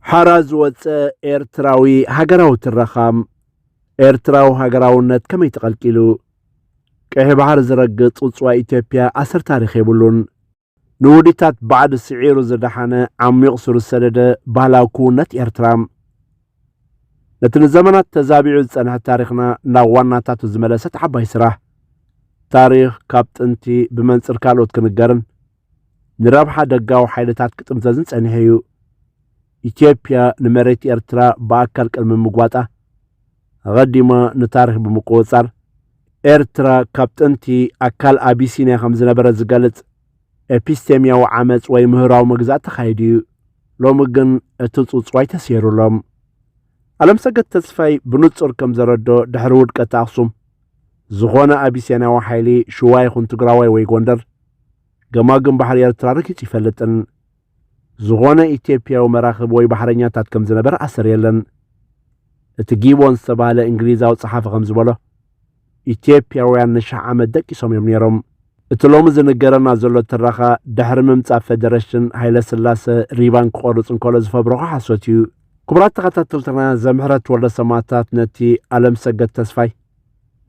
ሓራ ዝወጸ ኤርትራዊ ሃገራዊ ትረኻ ኤርትራዊ ሃገራውነት ከመይ ተቐልቂሉ? ቀይሕ ባሕሪ ዝረግጽ ጽውጽዋይ ኢትዮጵያ ኣሰር ታሪኽ የብሉን። ንውዲታት ባዕዲ ስዒሩ ዝደሓነ ዓሚቕ ሱር ዝሰደደ ባህላዊ ክውነት ኤርትራ ነቲ ንዘመናት ተዛቢዑ ዝጸንሐ ታሪኽና ናብ ዋናታቱ ዝመለሰት ዓባይ ስራሕ ታሪኽ ካብ ጥንቲ ብመንጽር ካልኦት ክንገርን ንረብሓ ደጋዊ ሓይልታት ክጥምዘዝን ጸኒሑ'ዩ። ኢትዮጵያ ንመሬት ኤርትራ ብኣካል ቅድሚ ምግዋጣ፣ ኣቐዲማ ንታሪኽ ብምቁጽጻር፣ ኤርትራ ካብ ጥንቲ ኣካል ኣቢሲንያ ከም ዝነበረት ዝገልጽ ኤፒስቴምያዊ ዓመጽ ወይ ምህራዊ መግዛእቲ ተኻይዱ'ዩ። ሎሚ ግን እቲ ጽውጽዋይ ተሰይሩሎም። ኣለምሰገድ ተስፋይ ብንጹር ከም ዘረድኦ ድሕሪ ውድቀት ኣኽሱም ዝኾነ ኣቢሴንያዊ ሓይሊ ሽዋ ይኹን ትግራዋይ ወይ ጎንደር ገማግም ባሕሪ ኤርትራ ርኪጽ ይፈልጥን ዝኾነ ኢትዮጵያዊ መራኽብ ወይ ባሕረኛታት ከም ዝነበረ ኣሰር የለን እቲ ጊቦን ዝተባህለ እንግሊዛዊ ጸሓፊ ከም ዝበሎ ኢትዮጵያውያን ንሽሕ ዓመት ደቂሶም እዮም ነይሮም። እቲ ሎሚ ዝንገረና ዘሎ ትረኻ ድሕሪ ምምጻእ ፈደረሽን ሃይለስላሰ ሪባን ክቖርጽ እንከሎ ዝፈብረኾ ሓሶት እዩ። ክቡራት ተኸታተልትና ዘምሕረት ወልደ ሰማእታት ነቲ ኣለምሰገድ ተስፋይ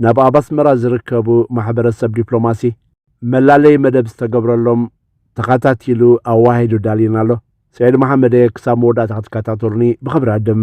ናብ ኣብ ኣስመራ ዝርከቡ ማሕበረሰብ ዲፕሎማሲ መላለይ መደብ ዝተገብረሎም ተኸታቲሉ ኣዋሂዱ ዳልዩና ኣሎ። ሰዒድ መሓመድ እየ ክሳብ መወዳእታ ክትከታተሉኒ ብኽብሪ እዕድም።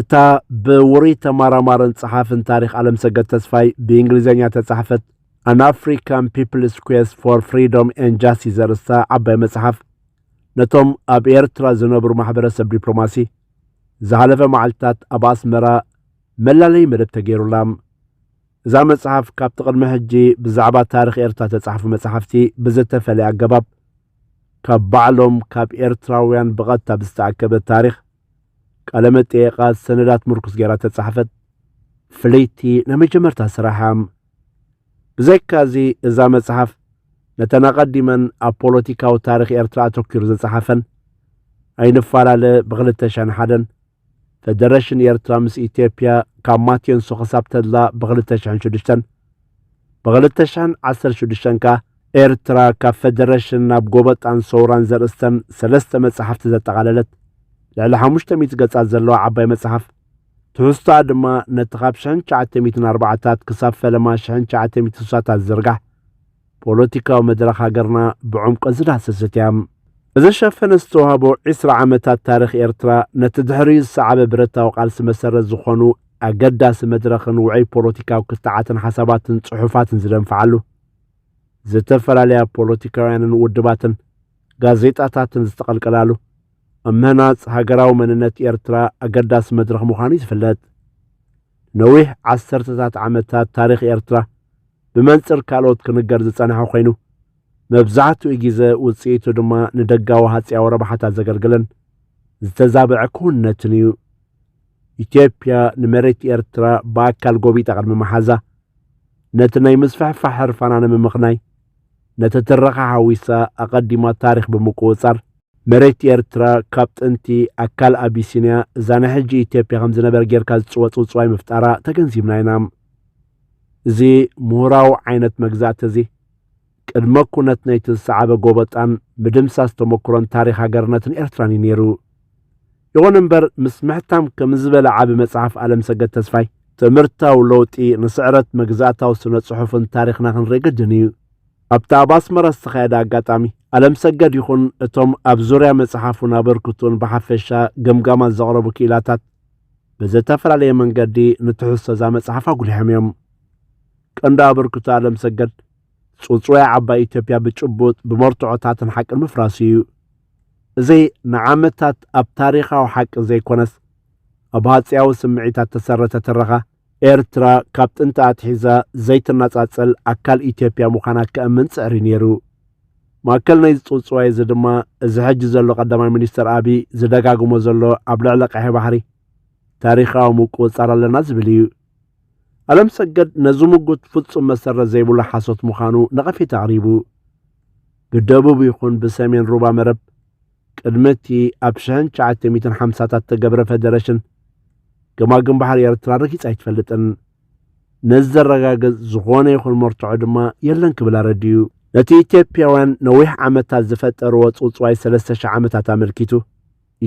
እታ ብውሩይ ተማራማርን ጸሓፍን ታሪኽ ኣለምሰገድ ተስፋይ ብእንግሊዝኛ ተጻሕፈት ኣን ኣፍሪካን ፒፕልስ ኩዌስ ፎር ፍሪዶም ኤን ጃስቲስ ዘርእስታ ዓባይ መጽሓፍ ነቶም ኣብ ኤርትራ ዝነብሩ ማሕበረሰብ ዲፕሎማሲ ዝሓለፈ መዓልትታት ኣብ ኣስመራ መላለይ መደብ ተገይሩላ እዛ መጽሓፍ ካብቲ ቅድሚ ሕጂ ብዛዕባ ታሪኽ ኤርትራ ተጻሕፉ መጽሓፍቲ ብዝተፈለየ ኣገባብ ካብ ባዕሎም ካብ ኤርትራውያን ብቐጥታ ብዝተኣከበ ታሪኽ ቃለመጠየቓት ሰነዳት ምርኩስ ገይራ እተጻሕፈት ፍልይቲ ናይ መጀመርታ ስራሓ እያ። ብዘይካዚ እዛ መጽሓፍ ነተን ኣቐዲመን ኣብ ፖለቲካዊ ታሪኽ ኤርትራ ኣተኲሩ ዝጸሓፈን ኣይንፋላለ ብክልተ ሻን ሓደን ፈደረሽን ኤርትራ ምስ ኢትዮጵያ ካብ ማቴንሶ ክሳብ ተድላ ብክልተ ሽሕን ሽዱሽተን ብ ክልተ ሽሕን ዓሰርተ ሽዱሽተን ከኣ ኤርትራ ካብ ፈደረሽን ናብ ጎበጣን ሰውራን ዘርእስተን ሰለስተ መጻሕፍቲ ዘጠቓለለት ልዕሊ ሓሙሽተ ሚእቲ ገጻት ዘለዋ ዓባይ መጽሓፍ ትሕዝቶኣ ድማ ነቲ ካብ ሽሕን ትሽዓተ ሚእትን ኣርባዓታት ክሳብ ፈለማ ሽሕን ትሽዓተ ሚእትን ስሳታት ዝዝርጋሕ ፖለቲካዊ መድረኽ ሃገርና ብዕምቆት ዝዳሰሰት እያ። እዚ ሸፈነ ዝተዋህቦ ዒስራ ዓመታት ታሪኽ ኤርትራ ነቲ ድሕሪኡ ዝሰዓበ ብረታዊ ቃልሲ መሰረት ዝኾኑ ኣገዳሲ መድረኽን ውዑይ ፖለቲካዊ ክትዓትን ሓሳባትን ጽሑፋትን ዝደንፍዓሉ፣ ዝተፈላለያ ፖለቲካውያንን ውድባትን ጋዜጣታትን ዝተቐልቀላሉ፣ ኣብ ምህናጽ ሃገራዊ መንነት ኤርትራ ኣገዳሲ መድረኽ ምዃኑ እዩ ዝፍለጥ። ነዊሕ ዓሰርተታት ዓመታት ታሪኽ ኤርትራ ብመንጽር ካልኦት ክንገር ዝጸንሐ ኮይኑ መብዛሕትኡ ግዜ ውጽኢቱ ድማ ንደጋዊ ሃጽያዊ ረብሓታት ዘገልግልን ዝተዛብዐ ክውንነትን እዩ ኢትዮጵያ ንመሬት ኤርትራ ብኣካል ጎቢጣ ቅድሚ መሓዛ ነቲ ናይ ምስፍሕፋሕ ሕርፋና ንምምኽናይ ነቲ ትረኻ ሓዊሳ ኣቐዲማ ታሪኽ ብምቁጽጻር መሬት ኤርትራ ካብ ጥንቲ ኣካል ኣቢሲንያ እዛ ናይ ሕጂ ኢትዮጵያ ከም ዝነበር ጌርካ ዝጽወጽውጽዋይ ምፍጣራ ተገንዚብና ኢና እዚ ምሁራዊ ዓይነት መግዛእቲ እዚ፣ ቅድመ ኩነት ናይቲ ዝሰዓበ ጎበጣን ምድምሳስ ተመኩሮን ታሪኽ ሃገርነትን ኤርትራን እዩ ነይሩ። ይኹን እምበር ምስ ምሕታም ከምዚ ዝበለ ዓቢ መጽሓፍ ኣለምሰገድ ተስፋይ፣ ትምህርታዊ ለውጢ ንስዕረት መግዛእታዊ ስነ-ጽሑፍን ታሪኽና ክንርኢ ግድን እዩ። ኣብቲ ኣብ ኣስመራ ዝተኻየደ ኣጋጣሚ፣ ኣለምሰገድ ይኹን እቶም ኣብ ዙርያ መጽሓፉን ኣበርክትኡን ብሓፈሻ ገምጋማት ዘቕረቡ ክኢላታት፣ ብዘተፈላለየ መንገዲ ንትሕዝቶ እዛ መጽሓፍ ኣጉሊሖም እዮም። ቀንዲ ኣበርክቶ ኣለምሰገድ ጽውጽዋይ ዓባይ ኢትዮጵያ ብጭቡጥ ብመርትዖታትን ሓቅን ምፍራሱ እዩ። እዚ ንዓመታት ኣብ ታሪኻዊ ሓቂ ዘይኮነስ ኣብ ሃጽያዊ ስምዒታት ተሰረተ ትረኻ ኤርትራ ካብ ጥንቲ ኣትሒዛ ዘይትነጻጸል ኣካል ኢትዮጵያ ምዃና ከእምን ጽዕሪ ነይሩ። ማእከል ናይዚ ጽውጽዋይ እዚ ድማ እዚ ሕጂ ዘሎ ቀዳማይ ሚኒስተር ኣቢይ ዝደጋግሞ ዘሎ ኣብ ልዕሊ ቀይሕ ባሕሪ ታሪኻዊ ምቁጽጻር ኣለና ዝብል እዩ። ኣለም ሰገድ ነዚ ምጉት ፍጹም መሰረት ዘይብሉ ሓሶት ምዃኑ ነቐፌታ ኣቕሪቡ። ብደቡብ ይኹን ብሰሜን ሩባ መረብ ቅድሚ እቲ ኣብ ሽሕን ትሽዓተ ሚእትን ሓምሳታት እተገብረ ፈደረሽን ገማግም ባሕሪ ኤርትራ ረጊጻ ኣይትፈልጥን። ነዚ ዘረጋግጽ ዝኾነ ይኹን መርትዖ ድማ የለን ክብል ኣረዲኡ። ነቲ ኢትዮጵያውያን ነዊሕ ዓመታት ዝፈጠርዎ ጽውጽዋይ ሰለስተ ሽሕ ዓመታት ኣመልኪቱ፣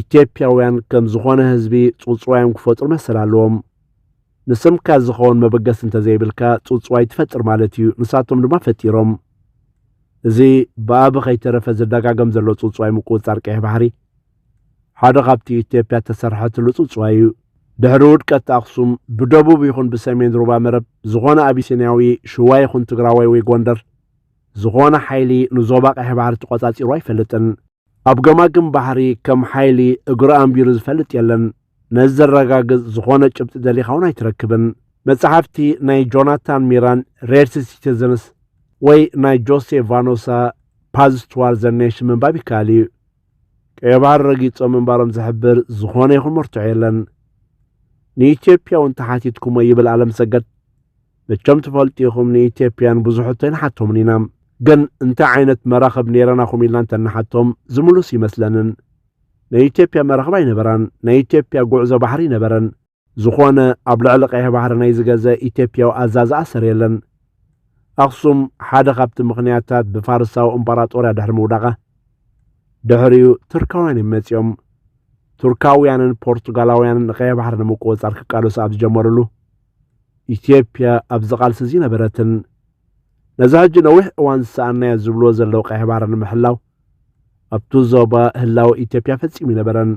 ኢትዮጵያውያን ከም ዝኾነ ህዝቢ ጽውጽዋዮም ክፈጥሩ መሰል ኣለዎም። ንስምካ ዝኸውን መበገሲ እንተዘይብልካ ጽውጽዋይ ትፈጥር ማለት እዩ፣ ንሳቶም ድማ ፈጢሮም። እዚ ብኣቢ ከይተረፈ ዝደጋገም ዘሎ ጽውጽዋይ ምቁጽጻር ቀይሕ ባሕሪ ሓደ ካብቲ ኢትዮጵያ እተሰርሐትሉ ጽውጽዋይ እዩ። ድሕሪ ውድቀት ኣኽሱም ብደቡብ ይኹን ብሰሜን ሩባ መረብ ዝኾነ ኣቢሲንያዊ ሽዋ ይኹን ትግራዋይ ወይ ጎንደር ዝኾነ ሓይሊ ንዞባ ቀይሕ ባሕሪ ተቖጻጺሩ ኣይፈልጥን። ኣብ ገማግም ባሕሪ ከም ሓይሊ እግሩ ኣንቢሩ ዝፈልጥ የለን። ነዚ ዘረጋግጽ ዝኾነ ጭብጢ ደሊኻ እውን ኣይትረክብን። መጻሕፍቲ ናይ ጆናታን ሚራን ሬድሲ ሲቲዝንስ ወይ ናይ ጆሴ ቫኖሳ ፓዝ ቱዋር ዘ ኔሽን ምንባብ ይከኣል እዩ። ቀይ ባህር ረጊጾም ምንባሮም ዝሕብር ዝኾነ ይኹን መርትዖ የለን። ንኢትዮጵያ እውን ተሓቲትኩሞ ይብል ኣለምሰገድ። መቸም ትፈልጡ ኢኹም ንኢትዮጵያን ብዙሑ ተይንሓቶምን ኢና ግን እንታይ ዓይነት መራኽብ ነይረናኹም ኢልና እንተንሓቶም ዝምሉስ ይመስለንን ናይ ኢትዮጵያ መራኽብ ኣይነበራን ናይ ኢትዮጵያ ጉዕዞ ባሕሪ ነበረን ዝኾነ ኣብ ልዕሊ ቀይሕ ባሕሪ ናይ ዝገዘ ኢትዮጵያዊ ኣዛዚ ኣሰር የለን ኣኽሱም ሓደ ካብቲ ምኽንያታት ብፋርሳዊ እምጳራጦርያ ድሕሪ ምውዳቓ ድሕሪኡ ቱርካውያን እዮም መፂኦም ቱርካውያንን ፖርቱጋላውያንን ንቀይሕ ባሕሪ ንምቁፅፃር ክቃለሱ ኣብ ዝጀመሩሉ ኢትዮጵያ ኣብዚ ቃልሲ እዚ ነበረትን ነዚ ሕጂ ነዊሕ እዋን ዝሰኣናዮ ዝብልዎ ዘለዉ ቀይሕ ባሕሪ ንምሕላው ኣብቲ ዞባ ህላወ ኢትዮጵያ ፈጺሙ ይነበረን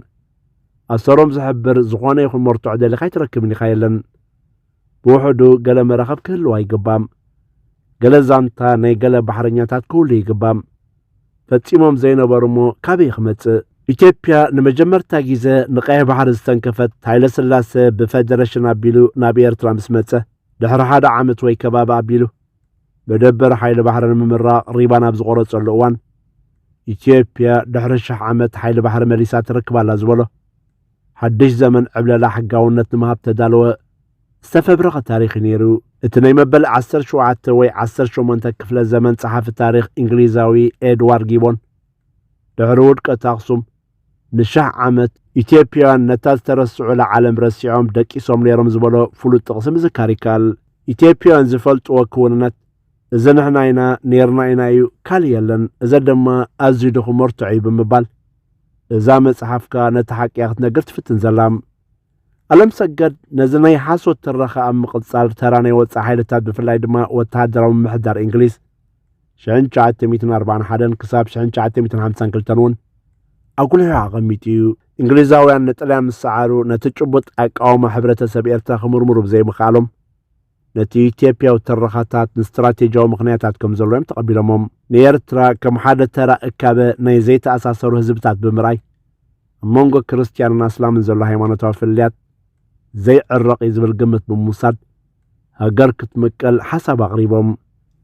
ኣሰሮም ዝሕብር ዝኾነ ይኹን መርትዖ ደሊኻ ኣይትረክብን ኢኻ የለን ብውሕዱ ገለ መራኸብ ክህልዋ ይግባም ገለ ዛንታ ናይ ገለ ባሕረኛታት ክህሉ ይግባም ፈጺሞም ዘይነበሩ እሞ ካበይ ክመጽእ? ኢትዮጵያ ንመጀመርታ ግዜ ንቀይሕ ባሕሪ ዝተንከፈት ሃይለስላሰ ብፈደረሽን ኣቢሉ ናብ ኤርትራ ምስ መጸ ድሕሪ ሓደ ዓመት ወይ ከባቢ ኣቢሉ መደበር ሓይሊ ባሕሪ ንምምራቕ ሪባን ኣብ ዝቖረጸሉ እዋን ኢትዮጵያ ድሕሪ ሽሕ ዓመት ሓይሊ ባሕሪ መሊሳ ትረክብ ኣላ ዝበሎ ሓድሽ ዘመን ዕብለላ ሕጋውነት ንምሃብ ተዳለወ ዝተፈብረኸ ታሪኽ ነይሩ። እቲ ናይ መበል 17 ወይ 18 ክፍለ ዘመን ጸሓፊ ታሪኽ እንግሊዛዊ ኤድዋር ጊቦን ድሕሪ ውድቀት ኣኽሱም ንሽሕ ዓመት ኢትዮጵያውያን ነታ ዝተረስዑላ ዓለም ረሲዖም ደቂሶም ነይሮም ዝበሎ ፍሉጥ ጥቕሲ ምዝካር ይከኣል። ኢትዮጵያውያን ዝፈልጥዎ ክውንነት እዚ ንሕና ኢና ነይርና ኢና እዩ ካልእ የለን፣ እዚ ድማ ኣዝዩ ድኹም መርትዖ እዩ ብምባል እዛ መጽሓፍ ከኣ ነቲ ሓቂ እያ ክትነግር ትፍትን ዘላ። ኣለም ሰገድ ነዚ ናይ ሓሶት ትረኻ ኣብ ምቕጻል ተራ ናይ ወጻኢ ሓይልታት ብፍላይ ድማ ወተሃደራዊ ምምሕዳር እንግሊዝ 1941 ክሳብ 1952 እውን ኣጉሊሑ ኣቐሚጡ እዩ እንግሊዛውያን ንጥልያን ምስ ሰዓሩ ነቲ ጭቡጥ ኣቃውማ ሕብረተሰብ ኤርትራ ክምርምሩ ብዘይምኽኣሎም ነቲ ኢትዮጵያዊ ትረኻታት ንስትራቴጂያዊ ምኽንያታት ከም ዘሎ እዮም ተቐቢሎሞም። ንኤርትራ ከም ሓደ ተራ እካበ ናይ ዘይተኣሳሰሩ ህዝብታት ብምርኣይ ኣብ መንጎ ክርስትያንን ኣስላምን ዘሎ ሃይማኖታዊ ፍልልያት ዘይዕረቕ እዩ ዝብል ግምት ብምውሳድ ሃገር ክትምቀል ሓሳብ ኣቕሪቦም።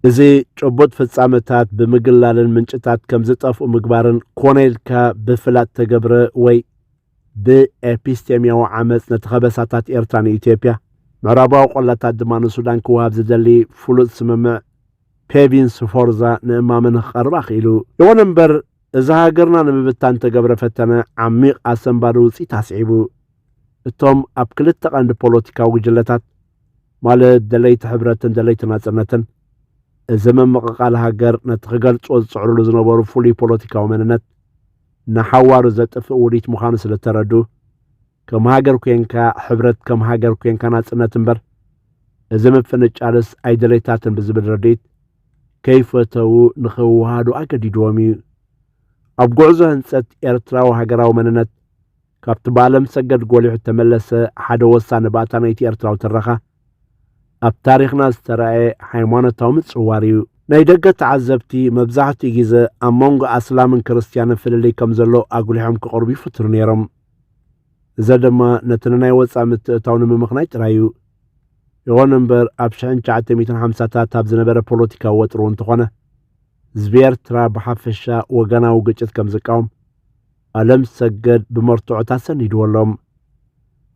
እዚ ጭቡጥ ፍጻመታት ብምግላልን ምንጭታት ከም ዝጠፍኡ ምግባርን ኮነ ኢልካ ብፍላጥ ተገብረ ወይ ብኤፒስቴምያዊ ዓመጽ ነቲ ከበሳታት ኤርትራ ንኢትዮጵያ፣ ምዕራባዊ ቆላታት ድማ ንሱዳን ክወሃብ ዝደሊ ፍሉጥ ስምምዕ ፔቪንስ ፎርዛ ንእማመ ንክቐርብ ኣኽኢሉ። ይኹን እምበር፣ እዚ ሃገርና ንምብታን እተገብረ ፈተነ ዓሚቕ ኣሰንባዲ ውጽኢት ኣስዒቡ። እቶም ኣብ ክልተ ቀንዲ ፖለቲካዊ ጉጅለታት፣ ማለት ደለይቲ ሕብረትን ደለይቲ ናጽነትን፣ እዚ ምምቕቓል ሃገር ነቲ ክገልጹዎ ዝጽዕርሉ ዝነበሩ ፍሉይ ፖለቲካዊ መንነት፣ ንሓዋሩ ዘጥፍእ ውዲት ምዃኑ ስለ እተረድኡ፣ ከም ሃገር ኴንካ ሕብረት ከም ሃገር ኴንካ ናጽነት እምበር እዚ ምፍንጫልስ ኣይደለይታትን ብዝብል ርድኢት ከይፈተዉ ንኽዋሃዱ ኣገዲድዎም እዩ። ኣብ ጉዕዞ ህንጸት ኤርትራዊ ሃገራዊ መንነት ካብቲ ብኣለም ሰገድ ጎሊሑ እተመለሰ ሓደ ወሳኒ ባእታ ናይቲ ኤርትራዊ ትረኻ፣ ኣብ ታሪኽና ዝተራእየ ሃይማኖታዊ ምጽዋር ኢዩ። ናይ ደገ ተዓዘብቲ መብዛሕትኡ ግዘ ኣብ መንጎ ኣስላምን ክርስትያንን ፍልልይ ከም ዘሎ ኣጉሊሖም ክቕርቡ ይፍትኑ ነይሮም። እዚ ድማ ነቲ ንናይ ወጻኢ ምትእትታው ንምምኽናይ ጥራይ ኢዩ። ይኹን እምበር ኣብ ሽሕን ትሽዓተ ሚእትን ሓምሳታት ኣብ ዝነበረ ፖለቲካዊ ወጥሪ እውን ተኾነ፣ ህዝቢ ኤርትራ ብሓፈሻ ወገናዊ ግጭት ከም ዝቃወም ኣለም ሰገድ ብመርትዖት ኣሰኒድዎ ኣሎ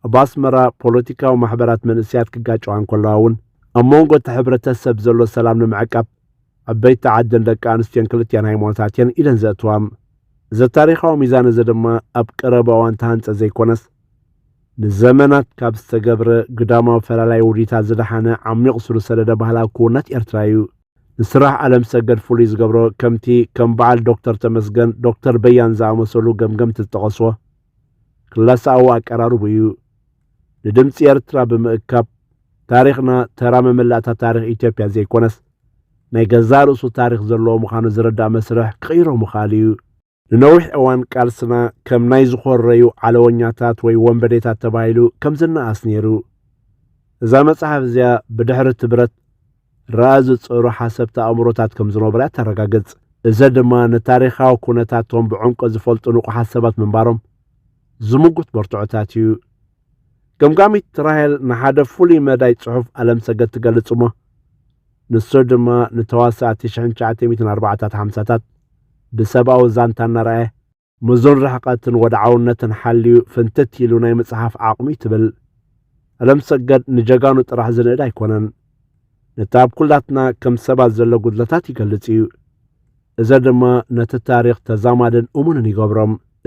ኣብ ኣስመራ ፖለቲካዊ ማሕበራት መንእስያት ክጋጨዋ እንከለዋ እውን ኣብ መንጎ እቲ ሕብረተሰብ ዘሎ ሰላም ንምዕቃብ ዓበይቲ ዓድን ደቂ ኣንስትዮን ክልቲኣን ሃይማኖታት እየን ኢደን ዘእትዋ እዚ ታሪኻዊ ሚዛን እዚ ድማ ኣብ ቀረባ እዋን ተሃንፀ ዘይኮነስ ንዘመናት ካብ ዝተገብረ ግዳማዊ ፈላላይ ውዲታት ዝደሓነ ዓሚቕ ስሩ ሰደደ ባህላዊ ክውነት ኤርትራ እዩ ንስራሕ ኣለምሰገድ ፍሉይ ዝገብሮ ከምቲ ከም በዓል ዶክተር ተመስገን፣ ዶክተር በያን ዝኣመሰሉ ገምገምቲ ዝጠቐስዎ ክለሳኣዊ ኣቀራርቡ እዩ። ንድምጺ ኤርትራ ብምእካብ ታሪኽና ተራ መመላእታ ታሪኽ ኢትዮጵያ ዘይኮነስ ናይ ገዛእ ርእሱ ታሪኽ ዘለዎ ምዃኑ ዝርዳእ መስርሕ ክቕይሮ ምኽኣል እዩ። ንነዊሕ እዋን ቃልስና ከም ናይ ዝኾረዩ ዓለወኛታት ወይ ወንበዴታት ተባሂሉ ከም ዝነኣስ ነይሩ። እዛ መጽሓፍ እዚኣ ብድሕሪ እቲ ብረት ረኣ ዝጸሩ ሓሰብቲ ኣእምሮታት ከም ዝነበሩ እያ ተረጋግጽ። እዚ ድማ ንታሪኻዊ ኩነታቶም ብዕምቆት ዝፈልጡ ንቑሓት ሰባት ምንባሮም ዝምጉት መርትዖታት እዩ። ገምጋሚት ራሄል ንሓደ ፍሉይ መዳይ ጽሑፍ ኣለምሰገድ ትገልጽ እሞ ንሱ ድማ ንተዋሳእቲ ሽሕን ትሽዓተ ሚእትን ኣርባዓታት ሓምሳታት ብሰብኣዊ ዛንታ እናርኣየ ምዙን ርሕቐትን ወድዓውነትን ሓልዩ ፍንትት ኢሉ ናይ ምጽሓፍ ዓቕሚ እዩ ትብል። ኣለምሰገድ ንጀጋኑ ጥራሕ ዝንእድ ኣይኮነን። ነቲ ኣብ ኩላትና ከም ሰባት ዘሎ ጉድለታት ይገልጽ እዩ። እዘ ድማ ነቲ ታሪኽ ተዛማድን እሙንን ይገብሮ።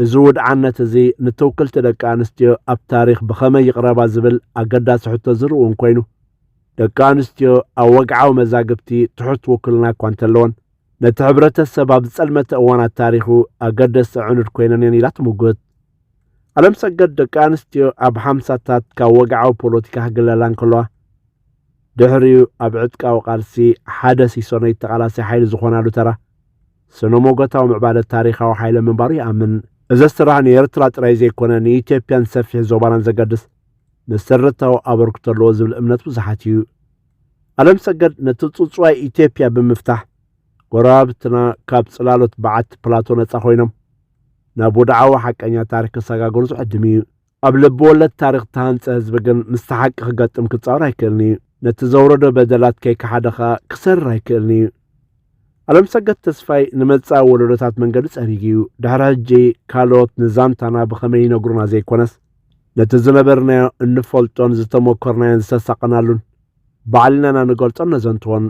እዚ ውድዓነት እዚ ንትውክልቲ ደቂ ኣንስትዮ ኣብ ታሪኽ ብኸመይ ይቕረባ ዝብል ኣገዳሲ ሕቶ ዝርውን ኮይኑ፣ ደቂ ኣንስትዮ ኣብ ወግዓዊ መዛግብቲ ትሑት ውክልና እኳ እንተለወን፣ ነቲ ሕብረተሰብ ኣብ ዝጸልመተ እዋናት ታሪኹ ኣገደስቲ ኣዕኑድ ኮይነን እየን ኢላ ትምጉት። ዓለምሰገድ ደቂ ኣንስትዮ ኣብ ሓምሳታት ካብ ወግዓዊ ፖለቲካ ክግለላ እንከለዋ ድሕሪኡ ኣብ ዕጥቃዊ ቃልሲ ሓደ ሲሶ ናይ ተቓላሲ ሓይሊ ዝኾናሉ ተራ ስነ-ሞጎታዊ ምዕባለ ታሪኻዊ ሓይለ ምንባሩ ይኣምን። እዚ ስራሕ ንኤርትራ ጥራይ ዘይኮነ ንኢትዮጵያን ሰፊሕ ዞባናን ዘገድስ መሰረታዊ ኣበርክቶ ኣለዎ ዝብል እምነት ብዙሓት እዩ። ዓለምሰገድ ነቲ ጽውጽዋይ ኢትዮጵያ ብምፍታሕ ጎረባብትና ካብ ጽላሎት በዓቲ ፕላቶ ነጻ ኮይኖም ናብ ወድዓዊ ሓቀኛ ታሪክ ክሰጋገሩ ዝዕድም እዩ። ኣብ ልቢ ወለድ ታሪክ ዝተሃንፀ ህዝቢ ግን ምስቲ ሓቂ ክገጥም ክፃወር ኣይክእልን እዩ። ነቲ ዘውረዶ በደላት ከይከሓደ ከኣ ክሰርር ኣይክእልን እዩ። ኣለምሰገድ ተስፋይ ንመጻኢ ወለዶታት መንገዲ ጸሪጉ እዩ ድሕሪ ሕጂ ካልኦት ንዛንታና ብኸመይ ይነግሩና ዘይኮነስ ነቲ ዝነበርናዮ እንፈልጦን ዝተመኮርናዮን ዝተሳቐናሉን ባዕልናና ንገልጾን ነዘንትዎን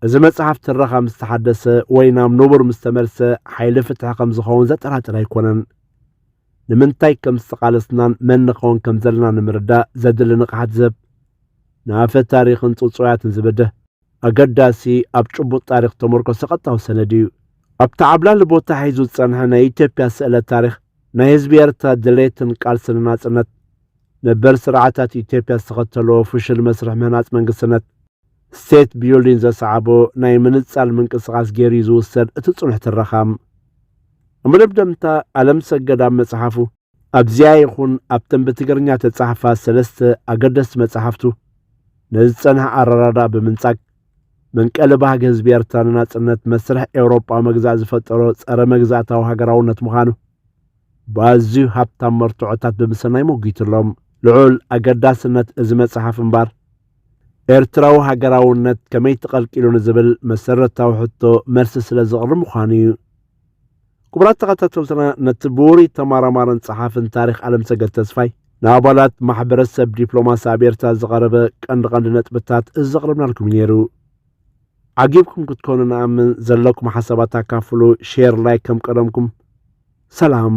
እዚ መጽሓፍ ትረኻ ምስ ተሓደሰ ወይ ናብ ንቡር ምስ ተመልሰ ሓይሊ ፍትሒ ከም ዝኸውን ዘጠራጥር ኣይኮነን። ንምንታይ ከም ዝተቓለስናን መን ንኸውን ከም ዘለና ንምርዳእ ዘድሊ ንቕሓት ዝህብ ንኣፈ ታሪኽን ጽጹያትን ዝብድህ ኣገዳሲ ኣብ ጭቡጥ ታሪኽ ተመርኮሰ ቀጥታዊ ሰነድ እዩ። ኣብቲ ዓብላሊ ቦታ ሒዙ ዝጸንሐ ናይ ኢትዮጵያ ስእለ ታሪኽ ናይ ህዝቢ ኤርትራ ድሌትን ቃልስን ናጽነት ነበር ስርዓታት ኢትዮጵያ ዝተኸተልዎ ፍሹል መስርሕ ምህናጽ መንግስትነት ስቴት ቢዩልዲን ዘስዓቦ ናይ ምንጻል ምንቅስቓስ ገይሩ'ዩ ዝውሰድ እቲ ጽኑሕ ትረኻ። እመደምደምታ ኣለምሰገድ ኣብ መጽሓፉ፣ ኣብዚኣ ይኹን ኣብተን ብትግርኛ እተጻሕፋ ሰለስተ ኣገደስቲ መጻሕፍቱ፣ ነዚ ዝጸንሐ ኣረዳድኣ ብምንጻግ፣ መንቀሊ ባህጊ ህዝቢ ኤርትራ ንናጽነት መስርሕ ኤውሮጳዊ መግዛእ ዝፈጠሮ ጸረ መግዛእታዊ ሃገራውነት ምዃኑ ብኣዝዩ ሃብታም መርትዖታት ብምሰናይ ሞጒቱሎም። ልዑል ኣገዳስነት እዚ መጽሓፍ እምበኣር፣ ኤርትራዊ ሃገራውነት ከመይ ተቐልቂሉ ንዝብል መሰረታዊ ሕቶ መልሲ ስለ ዘቕርብ ምዃኑ እዩ። ክቡራት ተኸታተልትና ነቲ ብውሩይ ተመራማርን ጸሓፍን ታሪኽ ኣለምሰገድ ተስፋይ ንኣባላት ማሕበረሰብ ዲፕሎማሲ ኣብ ኤርትራ ዝቐረበ ቀንዲ ቀንዲ ነጥብታት እዚ ዘቕረብናልኩም እዩ ነይሩ። ዓጊብኩም ክትኮኑ ንኣምን ዘለኩም ሓሳባት ኣካፍሉ ሼር ላይክ ከም ቀደምኩም ሰላም